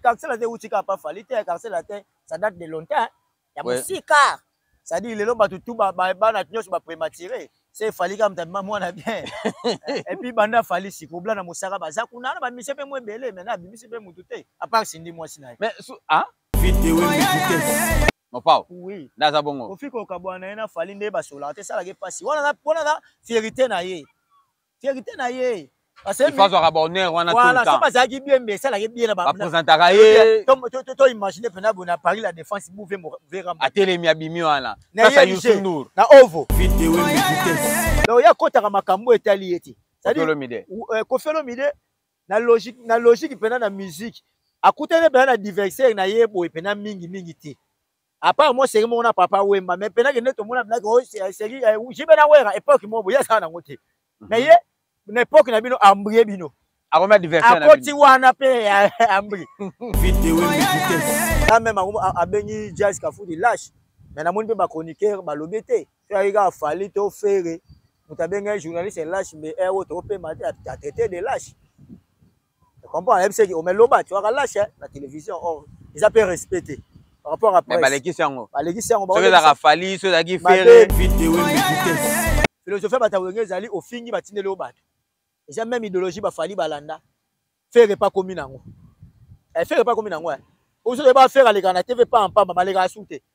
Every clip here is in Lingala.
Quartier latin euti kaka pa Fally te, quartier latin ça date de longtemps ya Ouais. mosika. C'est-à-dire lelo bato tout ba ba- bana nyonso ba prématuré. C'est Fally kaka moto abima mwana bien. Et puis banda Fally sikobla na mosaka baza kuna na ba musiciens pe mo ebele mais na abimisi pe mutu te à part Cindy mwasi na ye. mais su ah Vite ewe vitesse. mopao Oui. nde aza bongo Kofi kokabwana na ye na Fally nde basolaka te esalaka ye mpasi. Wana na wana na fierité na ye. verite na ye bazwaka bahonneur wana voilà so bazalaki bien mais esalaki bien na bapresentaka ye to imagine mpena boye na paris la défense bouve vera atelemi abimi wana nasa yusundur na ovo donc ye akotaka makambo etali ye te euh, kofi olomide na logique na logique mpena na musique akutani mpena na diversaire na ye boye mpena mingi mingi te apart mwa seri moko na papa wemba mais mpe nakende tomona bilaki oh, seri eh, jibe na wera epoke moko boye asala nango te mhm. mais ye na epoke na bino ambrie bino akomi adversaire akoti wana mpe eh, ambri na meme abengi jazz kafuti lache mais namoni mpe bachroniqueur balobi te so ayaki kaka fali to fere moto abengai journaliste lache mbe ero tokopema te atraite de lache comprends ayebi seki ome loba tu akalashe eh, na télévision or oh, eza mpe respect te par rapport à presse balekisi yango balekisi yango soki ezalaka fali soki ezalaki fere philosophie ya bato ya wenge ezali ofingi batindeli yo bato eza meme idéologie bafali balanda fere epa komi nango eh, fere epa komi nango eh. ozo yeba fere alekaka na tv pa mpamba balekaka su te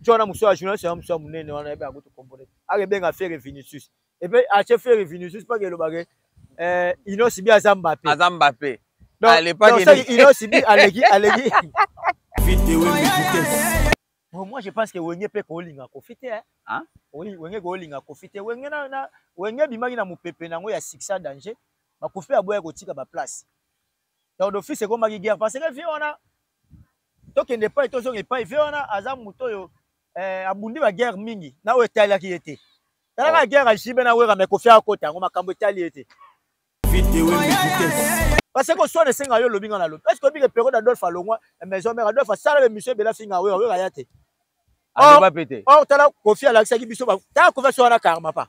nti wana mosu ya journaliste yango mosu ya monene wana yebe akuti kombole ake benga fere vinicius epe atie fere vinicius mpaka elobake eh, inosi bi aza mbape aza mbape inosi bi aleki aleki Bon, moi je pense que wenge mpe koolinga kofi te hein? oui, wenge koolinga kofi te wenge, na, na, wenge abimaki na mopepe na yango ya succès danger bakufi aboya kotika baplace donc d'office ekomaki guerre parce que vie wana tokende epai tozonga epai ve wana aza moto oyo eh, abundi baguerre mingi na oyo etalaki ye te talaka oh. guerre ajibe na wera me kofi akota yango makambo etali ye te parce que oswana esenga yo olobi nga na lobi est ce que obike periode adolphe alongwa eh, maison mare adolphe asala bemission ebele afinga wera wera ya te or tala kofi alakisaki biso tala kofi asowana karma pa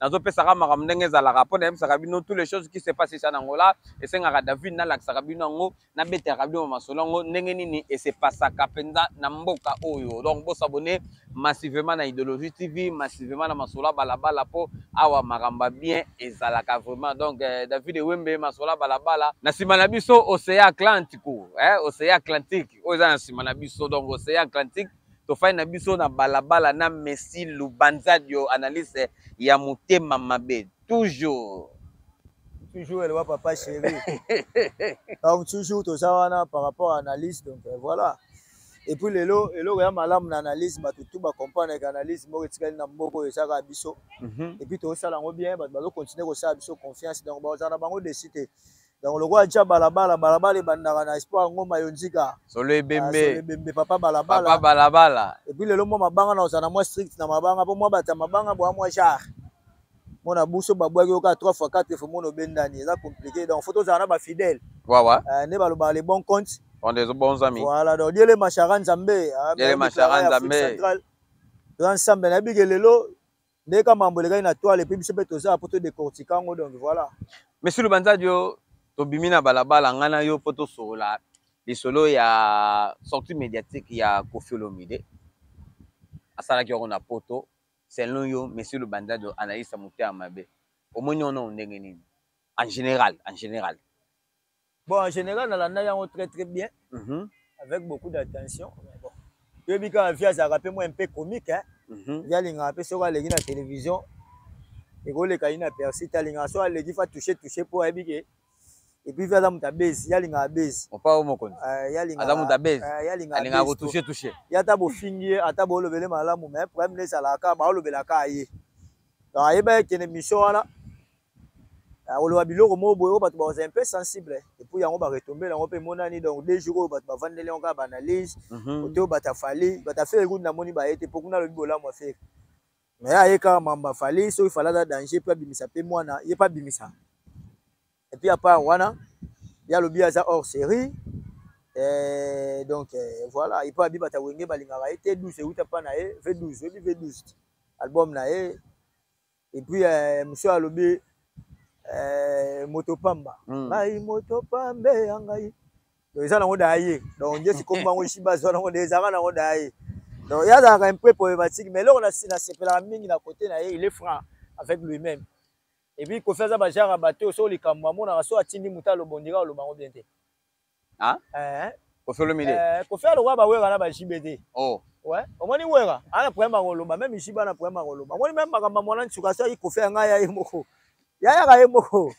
nazopesaka makambo ndenge ezalaka mpo nayebisaka bino tous les choses qui se passe esa na ngola esengaka david nalakisaka bino yango nabetaka bino masolo yango ndenge nini esepasaka mpenza na mboka oyo donc bosabone massivement na idéologie tv massivement na masolo ya balabala mpo awa makambo ya bien ezalaka vraiment donc eh, david ewembe masolo ya balabala na nsima na biso océan atlantico eh, océan atlantique oyo eza na nsima na biso donc océan atlantique tofandi na biso na balabala na messi lubanzadio analyse ya motema mabe toujours toujours elwa papa chéri donc toujours toza wana par rapport à analyse donc euh, voilà et puis lelo eloko ya malamu na analyse bato tu bacomprendre ke analyse moko etikali na mboka oyo ezaka biso mhm. et puis tosala yango bien bato bazocontinue kosala biso confiance donc bakozala na bango desi te donc lokola tya balabala balabala ebandaka na espoir ngoma yo nzika solo ah, ebembe ebembe papa balabala papa balabala epuis lelo mwa mabanga na ozala na mwa strict na mabanga mpo mwa bata mabanga bwa mwa genre mona buso babwaki yo kaka trois fois quatre fois mona obendani eza compliqué donc faut tozala na bafidèle wawa eh, nde balobaka le bon compte on des bons amis voilà donc diele mashara nzambe ah, diele mashara nzambe toza nsambe nayebi ke lelo nde ka mambo elekaki na toile epuis biso mpe tozala mpo todecortika yango donc voilà monsieur lubanzadio tobimi na balabala ngai na yo mpo tosolola lisolo ya sortie médiatique ya kofi olomide asalaki yango na poto selon yo monsieur lubanzadio analyse ya motema mabe omoni yango ndenge nini en général en général Bon, en général, dans la Nayango très très bien, mm -hmm. avec beaucoup d'attention. Bon. Je dis que Via Zara peut moi un peu comique, hein. Mm -hmm. Via Linga, un peu sur la télévision. Et quand les cas, il a percé, il a Linga, soit les gifs a touché, touché pour habiller. epuis mpe aza moto ya base ye alingaka base opa o mokonzi aza moto ya base alingaka kotouche touche ye ata bofingi ye ata bolobele malamu mais problème nde ezalaka kaka baolobelaka ye donc ayeba ye kende mission wana akoloba biloko moko boye oyo bato bakozala un peu sensible epuis yango baretombe yango mpe emonani donc deux jours oyo bato bavandeli yango kaka baanalyse mhm. kote oyo bato afali bato afere kutu namoni baye te mpo kuna alobi bolamu afere me ye aye kaka mambo afali soki fali aza danger mpe abimisa mpe mwana ye mpe abimisa epuis apart wana ye alobi aza hors série eh, donc eh, voilà epo abi bata wenge balingaka ye te 12 euta mpa na ye v12 oyebi v12 album na ye et puis euh, monsieur alobi euh, moto pamba mm. ngai moto pambe ya ngai donc eza nango da ye donc nde sikomi bango esi bazwa nango nde ezalaka nango da ye donc ye azalaka impe poematike mais eloko nasepelaka mingi na kote na ye il est franc avec lui-même epuis kofi aza bajara bato so likambo amonaka so atindi moto alobondika oloba yango bien te ah eh kofi olomide eh kofi alokola ba wera na ba jibe te oh ouais omoni wera ana problème akoloba même jibe ana problème akoloba omoni même makambo mwana nsuka asaki kofi ya ngai ya ye moko yayaka ye moko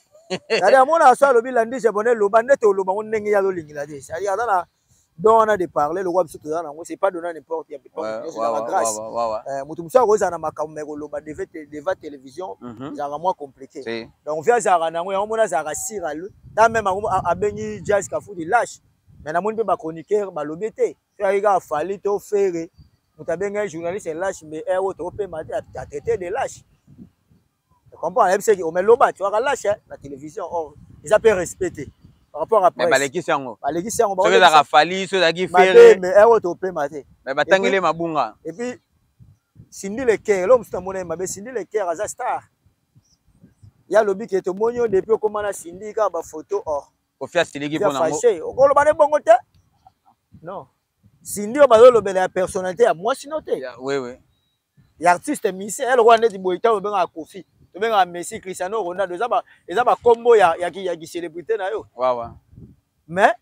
yali amona aso alobi landi jabone loba nde toloba ngo ndenge ye azolingela te sadi aza na don wana de parler lokola biso toza nango c'est pas donna n'importe ya pepaa grâce eh, moto mosusu akozala na makambo ma ekoloba deva télévision mhm. ezalaka mwa compliqué donc vie azalaka nango yango mona azalaka sira le ta meme yango abengi jazz kafudi lâche mais namoni mpe bachroniqueur balobi te so yaki kaka fali to fere moto abengai journaliste lâche mbe ero eh, oh, topema te atraite de lâche comprends ayebisaki ome oh, loba ti waka lâche eh, na télévision or oh, eza mpe respect te par rapport à presse balekisi yango balekisi yango soki ezalaka fali so ezalaki fere mbe ero topema te mais batangeli mabunga epuis sindi le cœur elo mosusu namona ye mabe sindi le cœur aza star ya lobi ke tomoni yo depuis okoma na sindi kaka bafoto or oh. kofi asiliki mpo nango okoloba na ebongo te non sindi oyo bazolobela ya personnalité ya mwasi no te wewe ya artiste musicien ya lokola neti boye ntango obengaka kofi tobengaka messi cristiano ronaldo eza bakombo ya, ya, ya kicelebrité na yo wawa mais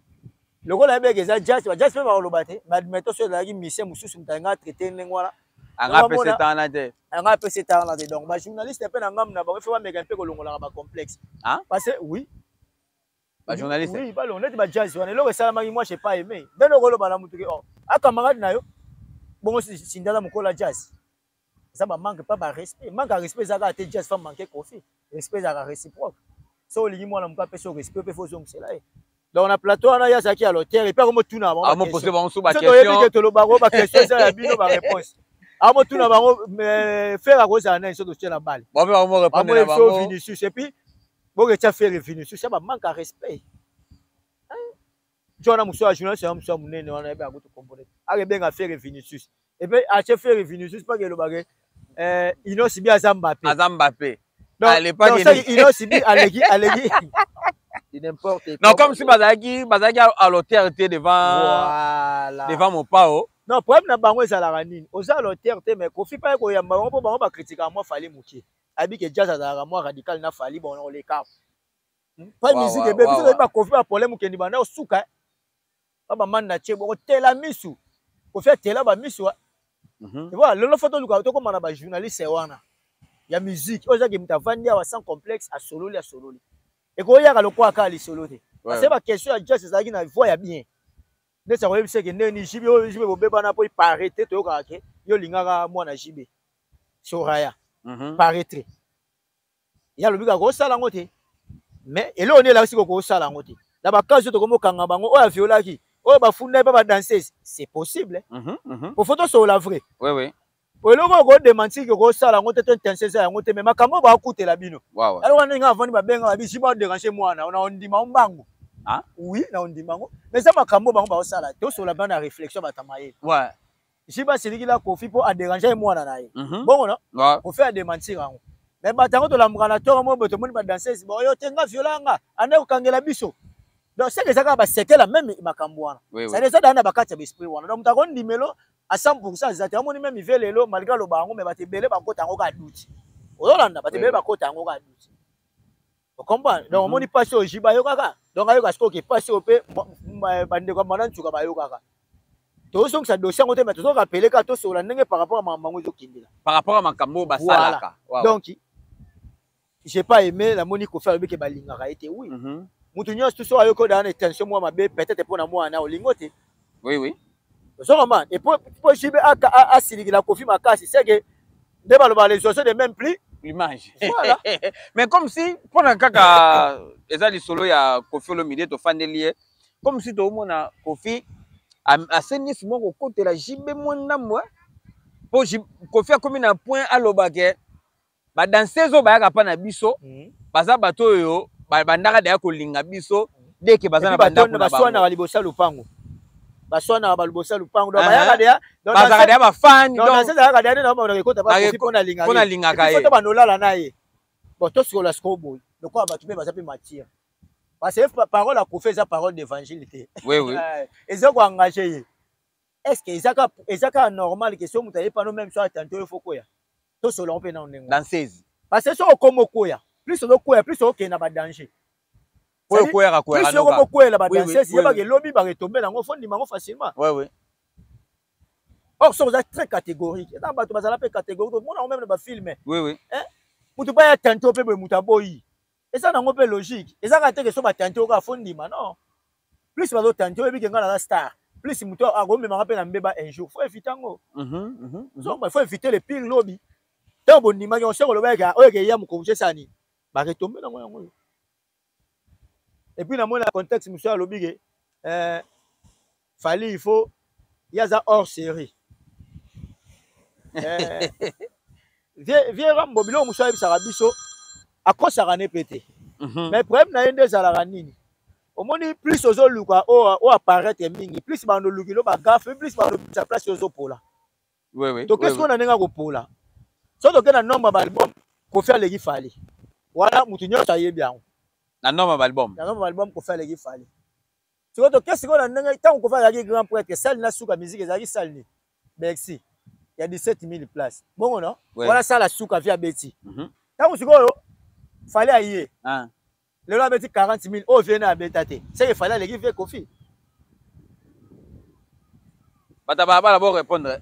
lokola ebeke eza jazz ba jazz pe ba koloba te ba admetto so ezalaki musicien mosusu moto alinga traiter ndenge wana anga pe c'est en ate anga pe c'est en ate donc ba journaliste pe na ngam na ba fe ba meka pe kolongolaka ba complexe hein parce que oui ba journaliste oui ba lonete ba jazz wana eloko esalamaki moi j'ai pas aimé ndenge okoloba na mutu ke oh akamaka na yo bongo sindala mokola jazz eza ba manque pas ba respect manque ya respect ezalaka te just femme manque kofi respect ezalaka réciproque so olingi mwana moka apesi yo respect mpe fo ozongisela ye donc na plateau wana ye azalaki ya lotere epe akomotuna bangosoki oyebi ke toloba bango baquestion eza ya bino baréponse amotuna bango fere akozala nani so totie na bale bamoyebiso vinicius epuis boketya fere vinicius ya bamanque ya respect nti wana mosu ya journaliste yango mosu ya monene wana yebe akuti kombole ake benga fere vinicius epe atie fere vinicius mpaka elobake eh, inosi bi aza mbape aza mbape inosi bi aleki aleki non comme si bazalaki bazalaki à l'auteur te devant voilà. devant mopao non problème na bango ezalaka nini oza à l'auteur te mais kofi mpaka koyamba bango mpo bango bakritikaka mwa fali moke ayebi ke jazz azalaka mwa radical na fali bongo nakoleka pa musique ebe biso toyebi bakofi ba problème okendi banda osuka ba bamani na tie boko tela misu kofi atela bamisu mhm. voilà lelo fo toluka tokóma na bajournaliste wana ya musique oyo ezaki moto avandi awa sans complexe asololi asololi ekoyaka lokola kaka lisolo te parce ba question ya jazz ezalaki na voix ya bien ndeti akoyebisa eke ndeni jibe oyo jibe bobebana mpo ipare te toyokaka ke yo olingaka mwana jibe soraya mhm. paretre ye alobi kaka kosala yango te mais eloko nde elakisi ko kosala yango te na bakazi oyo tokomi okanga bango oyo aviolaki oyo bafunda ye mpe badanseuse c'est possible mm -hmm, mm -hmm. pofo tosokola vrai oui, oui. eloko oko demantir ke kosala yango te to intense eza yango te me makambo oyo bakutela bino yango wana ndenge avandi babenga babisi baderange mwana na ondima o mbangu oui na ondima yango mais eza makambo oyo bango bakosala te osola bana réflexion batama ye jibe asilikila kofi mpo aderange ye mwana na ye mhm. bongo no kofi ademantir yango me bato yango tolamuka na toro moko boye tomoni badansese baoyo te nga viola nga anda kokangela biso donc seke eza kaka basekela meme makambo wana sadi eza daa na bakati ya baesprit wana donc moto akondimelo a 100 pourcent eza te amoni meme ive lelo malgre aloba yango me bato ebele bakota yango kaka duti ozolanda bato ebele bakota yango kaka duti okomprendre donc omoni mhm. mpasi oyo ji bayokaka donc ayoka sikoyo ke mpasi oyo mpe bandeko ya mwana nsuka bayokaka tozongisa dossier yango te me tozoka pele kaka tosola ndenge par rapport ya makambo yango ezokendela par rapport ya makambo oyo basalaka donc j'ai pas aimé namoni kofi alobi ke balingaka ye te wi moto mhm. nyonso toso ayoki odaa na tension mwa mabe peut-être mpo na mwana olingo te oui oui ozo comprendre et pour pour JB a a siliki la Kofi makasi c'est que nde baloba les oiseaux de même plus l'image voilà. mais comme si pona kaka eza lisolo ya Kofi Olomide tofandeli ye comme si toomona Kofi asenisi mwa kokotela JB mwa ndambo po Kofi akomi na point aloba ke ba danseuse oyo bayaka pa na biso mm. baza bato oyo bandaka deya kolinga biso mm. deke baza na bandako na baswanaka liboso ya lopango baswanaka baliboso ya lopango donc bayaka deya bazalaka deya bafani donc danseuse ayaka deya nde na bamonaka ekota bakoki mpo nalingaka ye banolala na ye bon tosikola sikoyo boye lokola bato mpe baza mpe matière parce que parole akufa eza parole d'évangile te oui, oui. Eh, eza koengage ye est ce que eza kaka normal ke so moto aye pano meme so atante oyo fo koya tosolola mpe nao ndenge dansezi parce que soki okoma okweya plus ozokweya plus okokende na badanger oyo okweyaka kweyaka yoko mokweyela badansesi yebaka elobi baketombela yango fo ndima yango facilement or soki oza très catégorique eza bato bazala mpe catégorique omona yango meme na bafilme moto baya tante mpe boye moto aboyi eza nango mpe logique eza kaka teke so batante oyo kaka fo ndima non plus bazotante oyebi ke ngai naza star plus moto akomemaka mpe na mbeba un jour fo evite yango mhm, mhm, mhm. zomba fo evite le pire lobi ntango bondimaki yango se koloba yeke oyo eke ya mokongo cesa nini baketombe nango yango oyo epuis namoni na contexte mosusu alobi ke eh, Fally il faut ye aza hors série eh, vieux rambo biloko mosusu ayebisaka biso akosaka ne mpe te mhm. mais problème na ye nde ezalaka nini omoni plus ozoluka oyo apparaître mingi plus bando oluki lo bagafe plus bando sa place ozopola toke sikoyo na ndenge akopola soki toke na nombre ya baalbum kofi aleki fali wana motu nyonso ayebi yango na nombre ya baalbum na nombre ya baalbum kofi aleki fali sikoyo toke sikoyo na ndenge ntango kofa azalaki grand prêtre sali na suka miziki ezalaki sali nini bercy ya 17000 place bongo no wana sala suka vi abeti mhm. ntango sikoyo fale aye ah. lelo abeti 40000 oyo vie na abeta te seke fale aleki vie kofi bato ya balabala bo répondre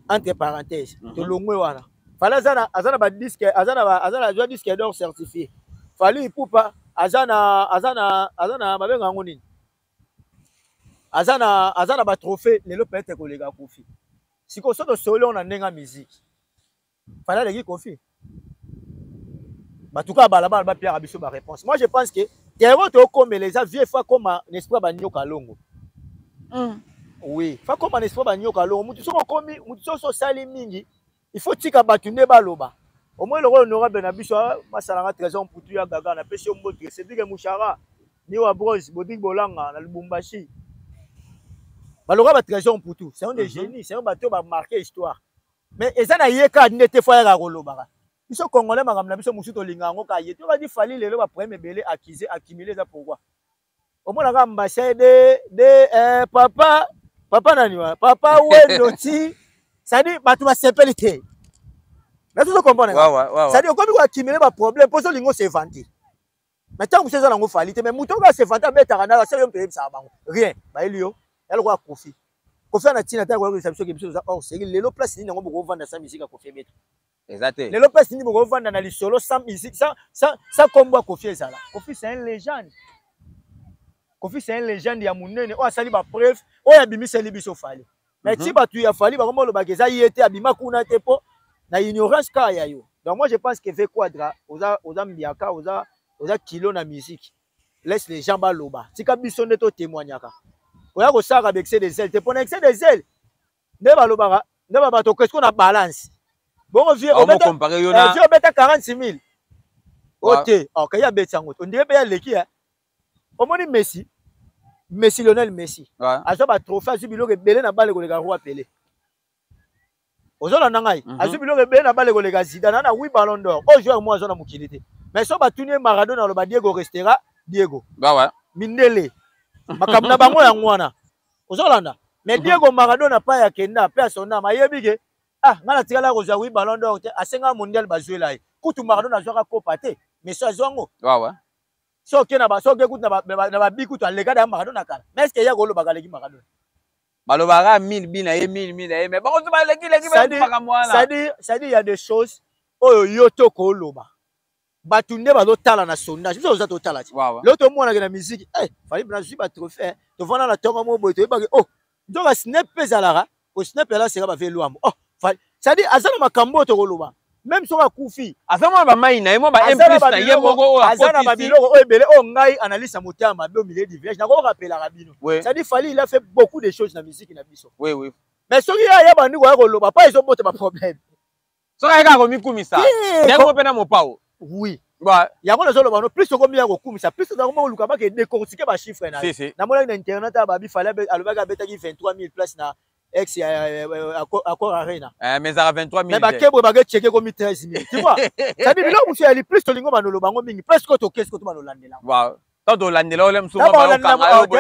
entre parenthèse mhm. tolongwe wana fali aza na aza na ba disque aza na aza na joie disque d'or certifié fali ipupa aza na aza na aza na babenga yango nini aza na aza na ba trophée lelo peut-être koleka kofi sikoyo so tosoli yango na ndenge ya miziki Fana leki kofi. Batuka ya balabala ba piaka biso ba réponse. Moi je pense que terreau to komela eza vieux fa koma n'esprit ba nyoka longo. Mm. Oui, fa koma n'esprit ba nyoka longo. Mutu soko komi, mutu soko sali mingi. Il faut tika batu nde baloba. Au moins le honorable na biso ah, masalanga trésor mputu ya gaga na pesi mbote. C'est dit que Mouchara ni wa bros bodik bolanga na Lubumbashi. Baloka ba trésor mputu, c'est un des mm -hmm. génies, c'est un bateau ba marquer histoire. mais eza na ye kaka nde te fo ayaka kolobaka biso congolais makambo na biso mosusu tolinga yango kaka ye tobandi fali lelo baproblème ebele accuse accumule eza pourkoi omonaka mbashe de de eh, papa papa nani wana papa wendo ti sadi bato basepeli te nazo comprendre sadi okomi koaccumule baproblème mpo ozolinga osevante na ntango mosusu eza nango fali te mais moto oyo asevanta abetaka nayo asali yo moto oyebisaka bango rien bayeli yo ya lokola kofi kofi ana ntina te akoyebisa biso ke biso toza hors série lelo place nini yango bokovanda sa misika kofi ebeta eza te lelo place nini bokovanda na lisolo sa misik sa sa sa kombo ya kofi ezala kofi c'est un légende kofi c'est un légende ya monene oyo asali ba preuve oyo abimiseli biso fali mais mhm. ti bato ya fali bakoma olobaka eza ye te abima kuna te mpo na ignorance kaka ya yo donc moi je pense que ve quadra oza, oza mbiaka oza, oza kilo na musique laisse les gens baloba tika biso nde totémoignaka oya kosalaka ba excès des ailes te mpo na excès des ailes nde balobaka nde babato okesko na balance bongo vie obeta 46 000 ote okei abeti yango ondire mpe ya leki omoni messi messi lionel messi ouais. azwa batrophée azwi biloko ebele na bale koleka roi pele ozolanda ngai mm -hmm. azwi biloko ebele na bale koleka zida na na wi ballon d'or oyo joueur moko azwa na mokili te mais so batuni ye maradona aloba diego restera diego bah ouais. mindele makambo na bango yango wana ozolanda mais mhm. diego maradona pa ya kenda mpe asondama ayebi ke ah ngai natikala kozwa wi ballon d'or te asenga mondial bazwela ye kutu maradona azwaka kopa te mais so azwa yango so oke na baso oke kutu na babi kutu alekada ya maradona kala mais est ce que ye akolobaka aleki maradona balobaka mille bi na ye mille mille na ye mais bango soba eleki eleki makambo wana c'est-à-dire ya des choses oyo yo to koloba bato nde bazotala na sondage biso toza totala ti leo tomonake na miziki eh, fali bina zwi batrophée tovanda na tongo moko boye toyebaki o oh, nto ba snap mpe ezalaka ko snap yala seka bave lwambo oh cadi aza na makambo oyo tokoloba meme soki akufi aza mwa bamai na ye mwa baemplis na ye moko oyo aza na babiloko oyo ebele oyo ngai analyse ya motema mabe omile diviage nakokorapelaka bino cadi fali il a fait beaucoup de choses na miziki na biso mais soki ye aya bandi koya koloba mpa ezobota baproblème soki aye kaka komikumisa ndenge moko mpe na mopao oui yango nazoloba no plus okomi ya kokumisa plus oza koma koluka bake decortike bachiffre na ye namonaki na internet ya babi fale alobaki abetaki 23 000 place na ex ya accord arena eh, mais ezaka 23 000 mais bakebwe bakecheke komi 13 000 tu vois cetadi biloko mosusu yali plus tolingo banoloba yango mingi plus ko tokesi ko to banolandela yango tolandela ole mosusu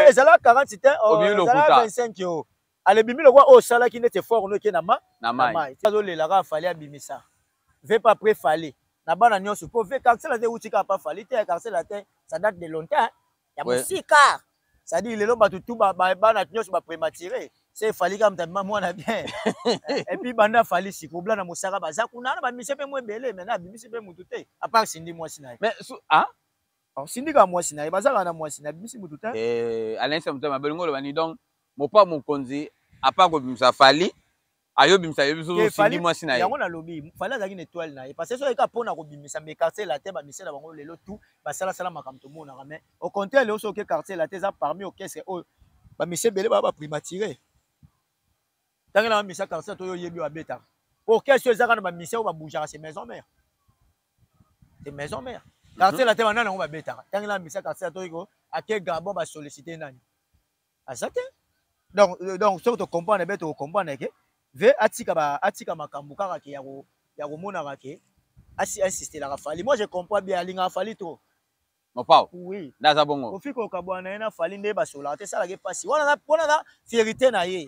ezalaka 40 te 25 yo ale bimi lokola oyo osalaki neti effort no eke na ma na mai azolela kaka fali abimisa ve pas après fali na bana nyonso mpo ve carcela te euti kaka pa fali te carcela te ça date de longtemps ya mosika cestadire lelo bato tu bana nyonso baprématuré se efali kaka moto abima mwana bien epuis banda afali siko obla na mosaka baza kuna na bamise mpe mo ebele mai na abimisi mpe motu te apart sindi mwasi na ye ah? Alors, sindika mwasi na ye bazalaka na mwasi na bimisi mutu te eh, alain samutama abelingi oloba ni donc mopa mokonzi apa kobimisa fali ayobimisa yo biso osindi mwasi na ye yango nalobi fali azalaki na etoile na ye parce que soki eka mpo na kobimisa me quartier latin bamisi na bango lelo tout basalasala makambo tomonaka mais au contraire leo soki quartier latin eza parmi orchestre oyo bamisi ebele baa baprimatire ntangelaka misa quartier to yo oyebi babetaka orchestre oyo ezaka na bamisi oyo babougeaka se maison mare c'est maison mère quartier la te bana nango babetaka ntango na misa quartier la toyiko ake gabon basollicite nani aza te donc euh, donc soki tocomprendre be tokocomprendre ke ve atika ba atika makambo kaka ke ya komonaka ke asi insistelaka fali moi je comprends bien alingaka fali trop mopao oui naza bongo ofika okabwana na ye na fali nde basolaka te esalaka ye mpasi wana wana na fierité na ye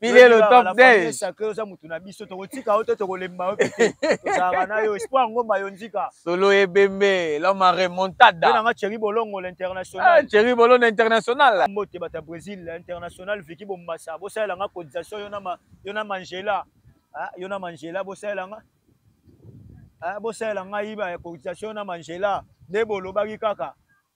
pile le top 10 sacré oza mutu na biso tokotika yo te tokolemba yo te tozalaka na yo espoir ngomba yo nzika solo ebembe loma remontada mpe nanga cheri bolongo l'international ah, cheri bolongo international mbote bato ya brésil international viki bombasa bosalela nga cotisation yo na mangela ah, yo na mangela bosalela nga ah, bosalela ngai ba cotisation yo na mangela nde bolobaki kaka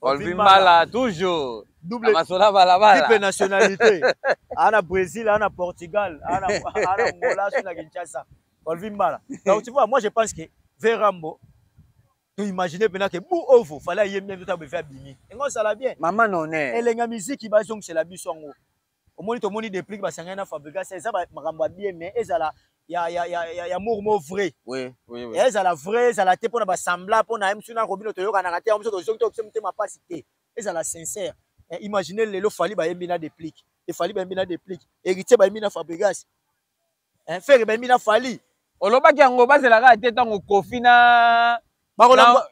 Colvin Mala toujours double masola balabala triple nationalité ana Brésil ana Portugal ana ana Angola sur la Kinshasa Colvin Mala donc tu vois moi je pense que Verambo tu imaginer pena que Bou Ovo fallait yembe ndoto abefia bimi engo sala bien maman non elenga musique bazong c'est la biso ngo omoni tomoni deplique basangani na fabrigas eza makambo ya bien mais ezala ya, ya, ya, ya, ya mur mo vrai oui, oui, oui. ezala vrai ezala te mpo na basembla mpo na ye mosusu nako bino toyokanaka te yango mosusu tozoki tokopesa motema mpasi te ezala sincère eh, imagine lelo fali bayembi na deplique efali bayembi na deplique héritier bayembi na fabrigas eh, fere bembi na fali olobaki yango bazela kaka te ntango kofi na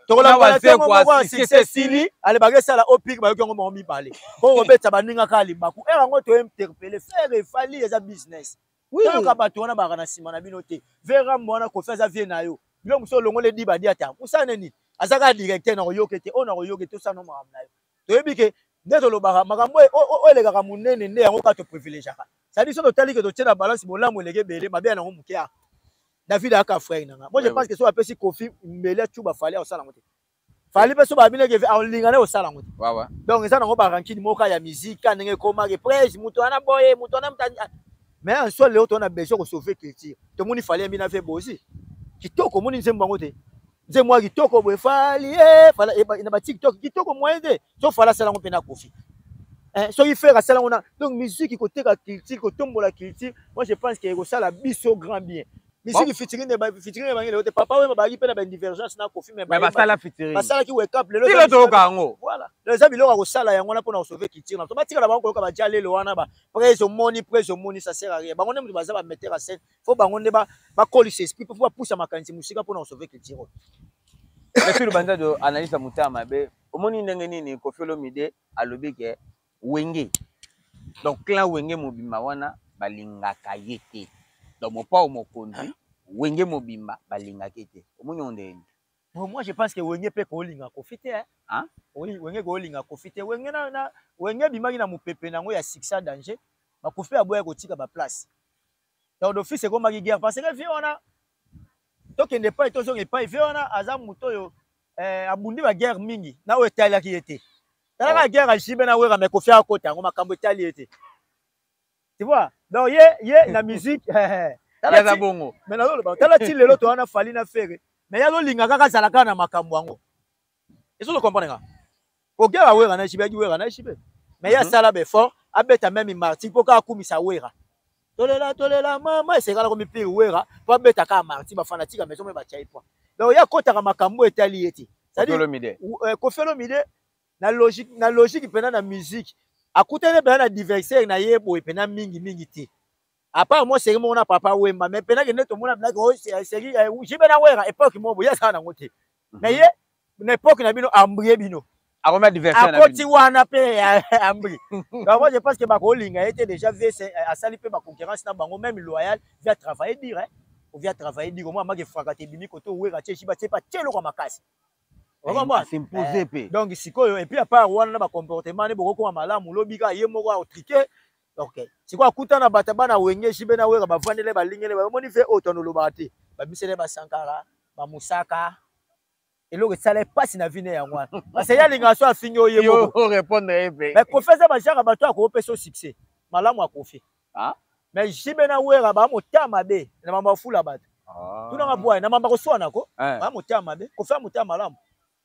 tokolaaasili ale bakesala opik bayoki yango moko mibale po kobeta baninga kaka libaku ere yango tointerpele fere efali eza business toyoka bato wana baka na nsima na bino te verambo wana kofi aza vie na yo bino mosusu olongoli edibadiata mosala nini aza kaka directeur na koyoke te oyo na koyoke te osala no makambo na yo toyebi ke nde tolobaka makambo oyo elekaka monene nde yango kaka toprivilegiaka sadi so totali ke totie na balance bolamu eleki ebele mabe ya nango moke yaka david ayaka frere na nga moi je pense ke so apesi kofi mbele acuba fali akosala yango te fali mpe so babinaki alinga na kosala yango te donc eza nango barankini moka ya miziki ka ndenge ekomaki prese moto wana boye moto wana mais en soi leo towana besoin kosauve culture tomoni fali yambi na fe bozi kitoko omoni nzembo yango te nze mwa kitoko boye fali eh, fala eh, na ba tiktok kitoko moyen te so fala asala yango mpe na kofi eh, soki fere asala yango na donc musique koteka culture kotombola culture moi je pense ke ekosala biso grand bien misiki fitirine fitirine bangi lelo te papa wemba bazalaki mpe na badivergence na kofi basala fitirine basalaki wekap lelo tilo toyoka yango voilà lelo eza biloko ya kosala yango wana mpo na kosauve culture na biso batikala bango koyoka baja lelo wana ba prese omoni prese omoni ça sert à rien bango nde moto baza bametteur ya scène fo bango nde bakolisa esprit mpo bapusa makanisi mosika mpo na kosauve culture oyo merci lubanza do analyse ya motema mabe omoni ndenge nini kofi olomide alobi ke wenge donc clan wenge mobimba wana balingaka ye te donc mopao mokonzi wenge mobimba balingaka ye te omoni yango ndenge nini Bon, moi je pense que wenge mpe kolinga kofi te hein? Oui, wenge kolinga kofi te wenge na, na wenge abimaki na mopepe na yango ya succès danger bakofi aboya kotika baplace donc d'office ekomaki guerre parce que vie wana tokende epai tozonga epai vie wana aza moto oyo eh, abundi baguerre mingi na oyo etalaki ye te talaka oh. guerre alisibe na wera me kofi akota yango makambo etali ye te tu vois donc ye ye na musique eh, eh, aza bongo me nazoloba tala ti lelo towana fali na fere me ye azolinga kaka azala kaka na makambo yango Est-ce que vous comprenez Ogera Wera na Jibe, Wera na Jibe. Mais il y a ça là, fort, abeta même martyr, pourquoi akumisa Wera tolela tolela mama esekala komipiri wera mpo abeta kaka marti bafanatika maison me batyai mpo donc ye akotaka makambo etali ye te kofelo mide euh, na logique na logique mpenza na musique akutani mpenza na diversaire na ye boye mpenza mingi mingi te apart mwa seri moko na papa wemba mais mpe nakende tomona bilaki oh, eh, seri eh, jibe na wera epoke moko boye asala nango te mhm. mais ye na epoke na bino ambrie bino akomi adversaire akoti wana mpe eh, ambri donc moi je pense que bakolinga ye te déjà vs asali mpe baconcurrence na bango même loyal via travailler dire hein? ovia travailler dire omoi amaki efraka te ebimi koto wera tie jiba tie mpe atie eloko ya makasi donc sikoyo epuis apart wana na bacomportement ne bokokoma malamu lobi kaka ye moko aotrike Okay. Sikoyo akuta na bata bana wenge jibe na wera bavandele balingele bamoni ve oyo tono olobaka te babisele basankara bamusaka eloko esala mpasi na vine yango wana parce ye alingaka so afingi oye mais kofi aza bajaka bato ya koopesa o succès malamu akofi ah? mais jibe na wera baa motema mabe na mambo afula bato ah. tunanga bwaye na mambo akoswanako eh. baa motema mabe kofi ya motema malamu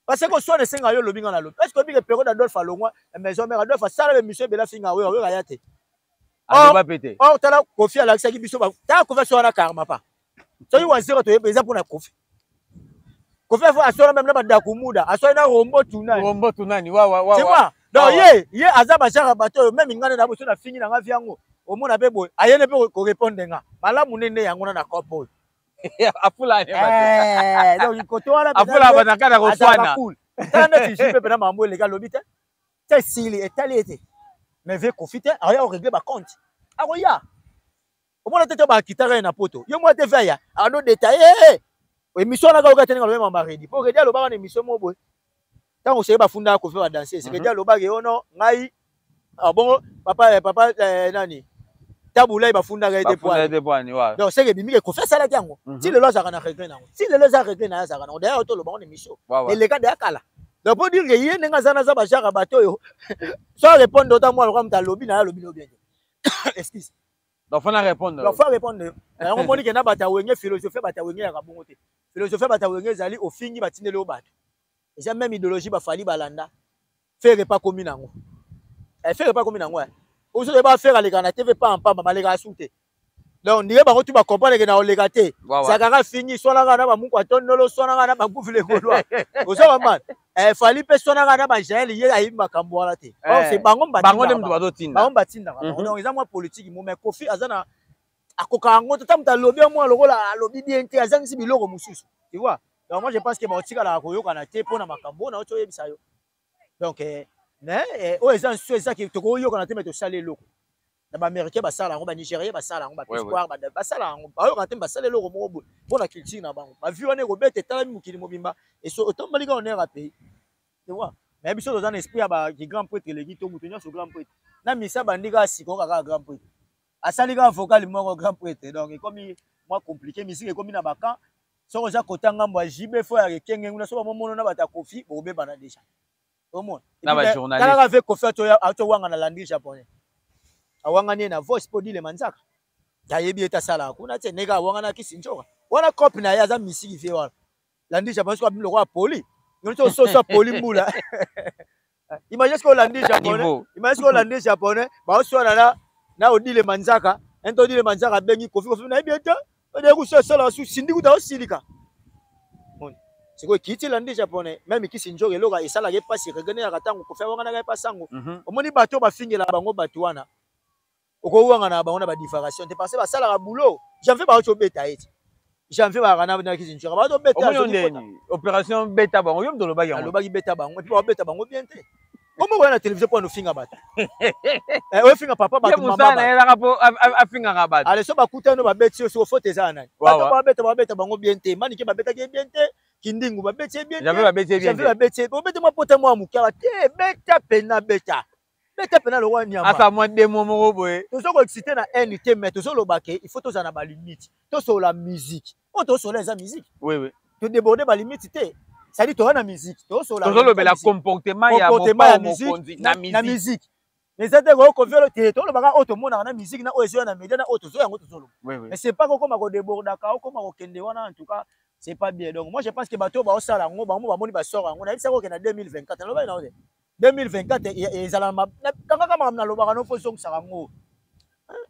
Parce que soit de senga yo lobi nga na lobi. Est-ce que obi que Perrault d'Adolphe alongwa eh, maison mère Adolphe asala le monsieur bela finga wewe wewe ya te. Aloba pete. Or tala Kofi alakisaki biso ba. Tala Kofi so wana karma pa. Soki wazero to yebe eza pona Kofi. Kofi afo asora même na badaku muda, asora na rombo tunani. Rombo tunani wa wa wa. Tu vois? Donc ye ye aza ba genre bato même ngane na boso na fingi na nga viango. Omona pe boye, ayene pe ko répondre nga. Malamu nene yango na na kopo. afula eh, donc koto wana afula banaka na koswana tala neti jus mpe mpena mambo eleka alobi te te esili etali ye te mais vie kofi te akoya koregle bacompte akoya omona te te bakitaka ye na poto ye mwa te ve aya ano detaille emission anaka oka te ndenge alobi mama redi mpo redi alobaka na emission moko boye ntango seke bafunda kofi ba danse seke mhm. dia alobaki yo oh no ngai ah, bongo papa eh, papa eh, nani tabulai bafundaka ye donc seke ebimi ke kofi asalaki yango mhm. ti lelo azalaka na regret nango ti lelo eza regret naye azalaka nango dayar toloba ngo na emission eleka deya kala donc mpo dire ke ye ndenge aza naza bajaka bato oyo so arépondre ota mwana loka moto alobi na ye alobi no bien te excuse Donc faut na répondre. Donc faut répondre. Na yango moni kenda bata wenge philosophie bata wenge ya kabongo te. Philosophie bata wenge ezali ofingi batindeli obatu. Eza même idéologie ba fali balanda. Faire pas komi nango. Eh faire pas komi nango. Ozo de ba faire aleka na TV pas en pas ba leka asute. Donc ndiye bango tu ba comprendre que na oleka te. Zakaka fingi swana na ba muko atondolo swana na ba gouvernement. Ozo ba man. Eh, fali mpe sonaka na bajael ye ayebi makambo wana te eh, bango nde bazotinda bango batindaka mhm. donc eza mwa politiki mo mais kofi aza na akoka yango te ta moto alobi ya mwa lokola alobi bien te azangisi biloko mosusu tu vois donc moi je pense que baotikalaka koyokana te mpo na makambo oyo nauti oyebisa yo donc eh, mais oyo eza nsu ezaki tokoyokana te me tosali eloko na ba américain basala yango ba nigérien basala yango ba espoir ba basala yango bayoka te basala eloko moko boye mpo na culture na bango bavie wana ekobeta etalami mokili mobimba eso otomboli kaka onera pays tu vois mais biso toza na esprit ya ba grand prêtre eleki to moto nyonso grand prêtre na misa bandi kaka sikoyo kaka grand prêtre asali kaka vocal moko grand prêtre donc ekomi mwa compliqué misiki ekomi na bakan soki oza kota ngambo ya jb fo ya ekenge nguna so bamomono na bato ya kofi bokobebana déjà omona na ba journaliste kala avec kofi ato ato wanga na landi japonais awanga ne na voice po dile manzaka tayebi eta sala kuna te neka awanga na kisinjoka wana cop na ye aza misiki vie wana landi japonais ko abimlo kwa poli ngoni to soso poli mbula imagine ce que landi japonais imagine ce que landi japonais ba oswana na na odile manzaka ento odile manzaka bengi kofi kofi na yebi eta Odeya kusu asala su sindi kuta osilika. Moni. Sikoyo kiti elandi japonais meme kisi njoka eloko esalaka epasi ekegeneyaka ntango kofi awanganaka ye mpasi yango mhm. omoni bato bafingela bango bato wana okowangana na bango na badivaration te parce basalaka boulot janvier baoki obeta ye te janvier bayaka na kisi njoka baoki obeta opération beta bango yo mpe olobaki yango alobaki beta bango mpe babeta bango bien te Omo koya na television mpo anofinga bato. Eh, ofinga papa bato mama bato. Yelaka mpo afingaka bato. Ale so bakutani babeti yo soko fote eza ya nani? Bato babeta babeta bango bien te. Manike babetaki ye bien te. Kindingu babeti ye bien te. Javi babeti ye bien te. Javi babeti ye. Obeti mwa pota mwa moke awa te. Beta pena beta. Beta pena lokola nyama. Asa mwa demo moko boye. Tozo ko exciter na haine te mais tozo loba ke il faut tozala na ba limite. Tosola musique. oyo oh, tosola eza musique oui, oui. todeborde balimite te sadi toza na musique tosololobela comportement ya mokonzi na musique eza te koyo koviolo te tolobaka oyo tomonaka na musique na oyo ezoya na media na oyo tozoya yango tozoloba mais c'est pas kokoma kodebordaka okoma kokende wana en tout cas c'est pas bien donc moi je pense que bato oyo baosala yango bango bamoni basor yango nayebisaka okenda 2024 nalobaki na yo te 2024 e, e, ezala kangaka makambo nalobaka no fo ezongisaka yango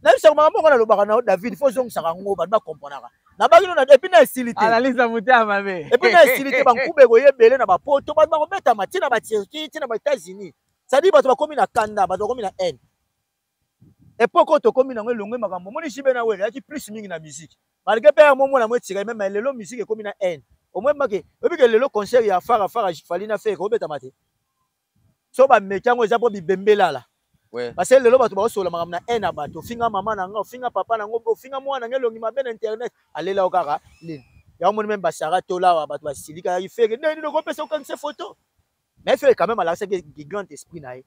nayebisaka makambo yango nalobaka na david fo ezongisaka yango bato bakomponaka nabaki no epuis na esili te analyse motema mabe epuis na esili te bankube ekoya ebele na bapoto bato bakobetama ntina baturquie ntina baétats-unis cestadire bato bakomi na kanda bato bakomi na haine epoque oyo tokomi nango elongwe makambo omoni jibe na wele ayaki plus mingi na musique malgré mpe yango omona yango etika meme lelo musique ekomi na haine omoi make oyebi ke lelo concert ya fara fara fali na fere obetama te so bameki yango eza mpo bibembelala parce lelo bato baosola makambo na haine ya bato ofinga mama na nga ofinga papa na ngo ofinga mwana nga elongi mabe na internet alela yo kaka lini yango moni meme basara tolawa bato basilikaki fere ndenge nini okopesa okanisa foto mais fere quand meme alakisaki grand esprit na ye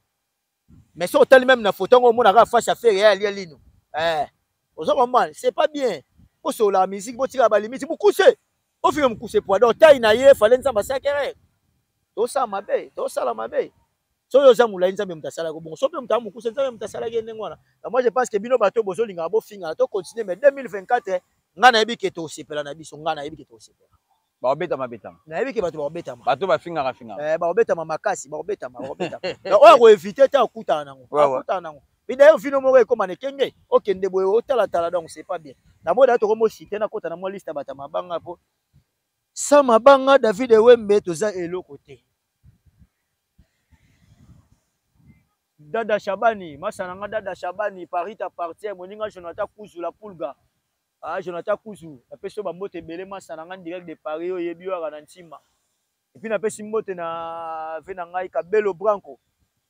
mais soki otali meme na foto yango omona kaka face ya fere ya alia lino eh, oza comprendre c'est pas bien bosololaka musique botikaka balimiti mokuse ofinga mokuse poa donc tai na ye fale nzambe asakere tosala mabe tosala mabe soki oza molai nzambe moto asalaki bongo so mpe moto aa mokuse nzambe moto asalaki ye ndenge wana moi je pense que bino bato bozolingaka bofingana to continue mais 2024 ngai nayebi ke tosepela na biso ngai nayebi ke tosepela bakobetama betama nayebi ke bato bakobetama bato bafingaka fingaka eh, bakobetama makasi bakobetama bakobetama oyo akoevite te akutana nango akutana nango mpe dayer vino moko ekoma na ekenge okende boye otalatala donc c'est pas bien namoi dayer tokomi osite nakota na mwa liste ya bato ya mabanga mpo sa mabanga david ewembe toza eloko te dada shabani masana nga dada shabani paris t'appartient moninga jonathan kuzula pulga Ah, Jonathan Kuzu, napesi yo bambote ebele masa na ngai direct de Paris oyo yebi yo na ntima. Et puis napesi mbote na ve na ngai Kabelo Branco.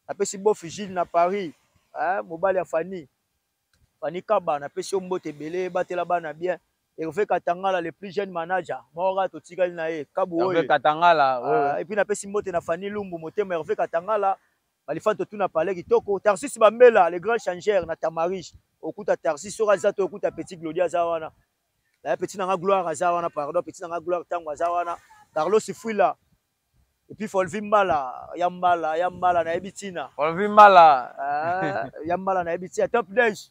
Napesi Bof Gilles na Paris, hein, mobali ya Fanny. Fanny Kaba, napesi yo mbote ebele, batela bana bien. Hervé Katangala, le plus jeune manager. Mora totikali na ye, Kabu Hervé Katangala, ah, oui. Et puis napesi mbote na Fanny Lumbu, motema Hervé Katangala. Balifan totuna pale kitoko Tarsis Bambela le grand changeur na Tamaris okuta Tarsis soki aza to okuta petit Glodi aza wana eh, petit nanga gloire aza wana pardon petit nanga gloire tango aza wana Carlos Fuila et puis Folvi Mbala ya Mbala ya Mbala na yebi tina Folvi Mbala eh, ya Mbala na yebi tina Top Dash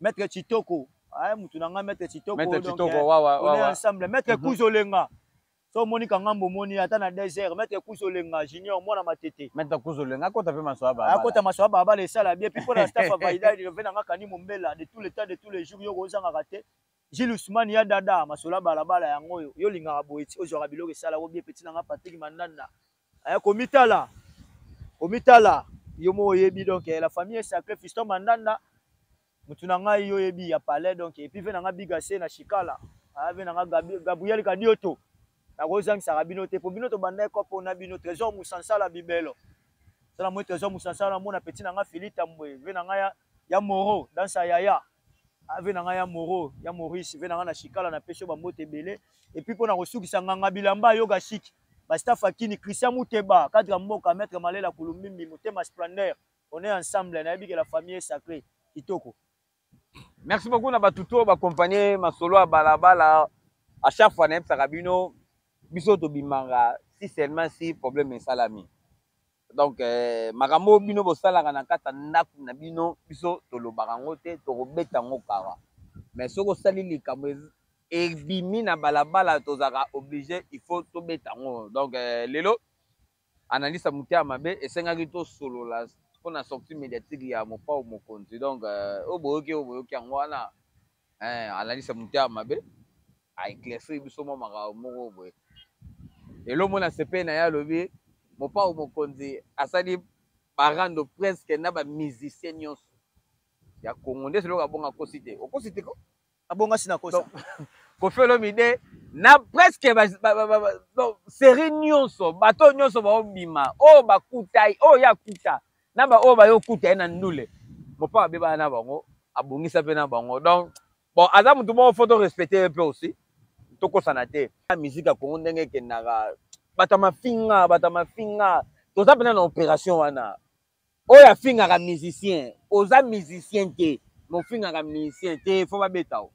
Maître Chitoko. Ah, mutu na nga Maître Chitoko. Maître Chitoko, eh, wa wa wa. On est ensemble. Maître mhm. Kuzolenga. so omoni kanga mbomoni ata na désert maître kuzolenga junior mwana matete maître kuzolenga akota mpe maswa baba akota maswa baba le sala bien puis pona staff avaida reve na nga kani mombela de tous les temps de tous les jours yo kozangaka te Gilles Ousmane ya dada masola balabala yango oyo yo lingaka boye ozwaka biloko esala ko bien petit na nga Patrick Mandanda Eh, komitala komitala yo moko oyebi donc eh, la famille est sacrée fiston mandanda mutu na ngai yo oyebi ya palais donc epuis ve na ngai bigase na chikala ah, ve na ngai gabriel kadioto nakozangisaka bino te mpo bino tobandaki kopo na bino trésor musansala bibelo tala moi trésor musansala namona peti na ngai fili tambwe ve na ngai ya, ya moro dansa yaya ave na ngai ya moro ya maurice ve na ngai na shikala na pesi yo bambote ebele epuis mpo na kosukisa nganga bilamba yoga shiki bastaf akini christian muteba cadre ya mboka maître malela kulumbimbi motema splendeur on est ensemble nayebi ke la famille est sacrée kitoko merci beaucoup na bato to bakompanie masolo ya balabala à chaque fois nayebisaka bino biso tobimanga si seulement si problème esalami donc eh, makambo oyo bino bosalaka na kati ya ndako na bino biso tolobaka yango te tokobeta yango kara mais soki osali likambo ebimi na balabala tozalaka oblige il faut tobeta yango donc eh, lelo analyse ya motema mabe esengaki tosolola mpo na sortie médiatique ya mopao mokonzi donc eh, oyo boyoki oyo boyoki yango wana eh, analyse ya motema mabe aeclaircir biso mwa makambo moko boye lelo mona sepe na ye alobi mopao mokonzi asali barando presque na bamusicien nyonso ya congo nde seloko abonga akosi te okosi te ko abonga si nakosa kofi olomide na presque serie nyonso bato nyonso baobima oyo oh, bakutai oyo oh, ye akuta na ba oyo bayo kuta ye na ndule mopa abebana na bango abongisa mpe na bango donc bon aza motu moko fo to respecte ye mpe aussi tokosana te miziki ya kongo ndenge ekendaka bato ya mafinga bato ya mafinga toza mpena na opération wana oyo afingaka musicien oza musicien te mofingaka musicien te fo babeta o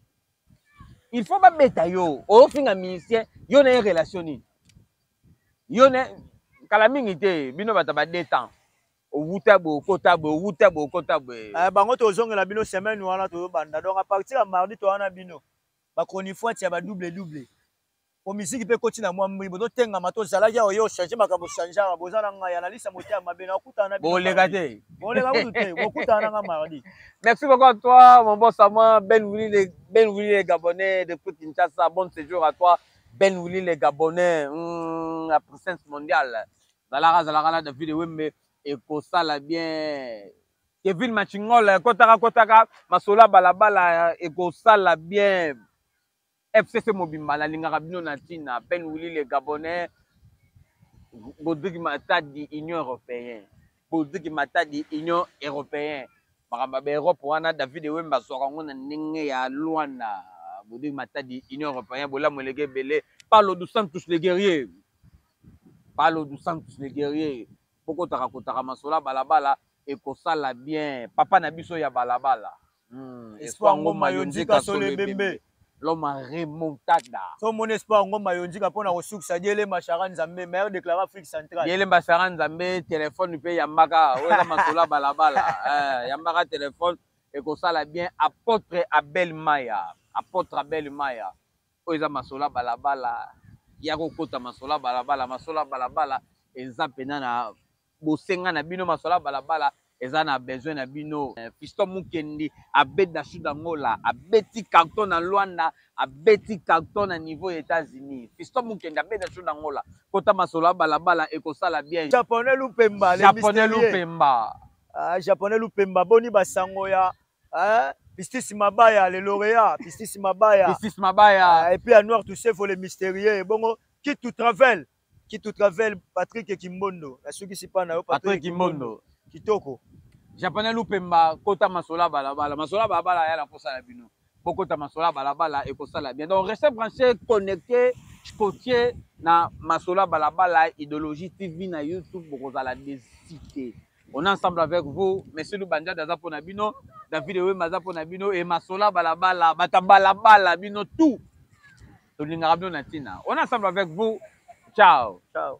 il faut babeta yo ofinga musicien yo na ye relation nini yo na kala mingi te bino bato ba deux temps owuta boye okota boye owuta boye okota boye eh, bango tozongela bino semaine wana tozobanda donc apartir ya mardi towana bino bachronifuati ya badouble double po miziki mpe ekoti na mwa mbui bozotengama to ozalaki awa yo change makambo changeaka boza na ngai analyse ya motia mabe na okutana na boleka te boleka kutu te bokutana na ngai mardi merci beaucoup à toi mon bon sama ben wili le ben wili le gabonais depuis kinshasa bon séjour à toi ben wili le gabonais mm, la puissance mondiale zalaka zalaka na david wembe ekosala bien kevin machingola kotaka kotaka masola balabala ekosala bien FCC mobimba nalingaka bino na ntina Ben Willy le Gabonais Godrigue Matadi Union Européenne Godrigue Matadi Union Européenne makambo ya baeurope wana David Ewembe azwaka yango na ndenge ya Luanda Godrigue Matadi Union Européenne bolamu eleki ebele Paulo dos Santos le guerrier Paulo dos Santos le guerrier bokotaka kotaka masolo ya balabala ekosala bien papa na biso ya balabala Hmm, espoir ngoma yo nzika solo ebembe l'homme a remontada so omoni espoir ngoma yo nzika mpo na kosukisa diele mashara nzambe maire déclaré afrique centrale diele mashara nzambe telefone mpe yambaka oyoka masolo ya balabala eh, yambaka telefone ekosala bien apôtre abel maya apôtre abel maya oyo eza masolo ya balabala ya kokota masolo ya balabala masolo ya balabala eza mpena na bosenga na bino masola balabala eza na besoin na bino eh, fisto mukendi abeti na sud angola abeti carton na luanda abeti carton na niveau ya états-unis fisto mukendi abeti na sud angola kota masolo ya balabala ekosala bien japonais lupemba japonais lupemba ah, japonais lupemba boni basango ya eh? Pistis Mabaya, le lauréat, Pistis Mabaya. Pistis Mabaya. Ah, et puis à Noir Toussefo, le mystérieux. Bon, qui tout travel. Kitu Travel, Patrick Kimbondo. Nasukisi pa na yo Patrick Kimbondo. Kitoko. Japonais Lupemba kota masola balabala. Masola balabala ya la kosa la bino. Bokota masola balabala et kosa la bien. Donc restez branchés, connectés, cotiers na masola balabala idéologie TV na YouTube bokozala des cités. On est ensemble avec vous. Monsieur Lubanjade aza pona bino. David Ewemba aza pona bino. Et Masola Balabala, Bata Balabala, bino tout. Tolingaka bino na tina. On est ensemble avec vous. Ciao. Ciao.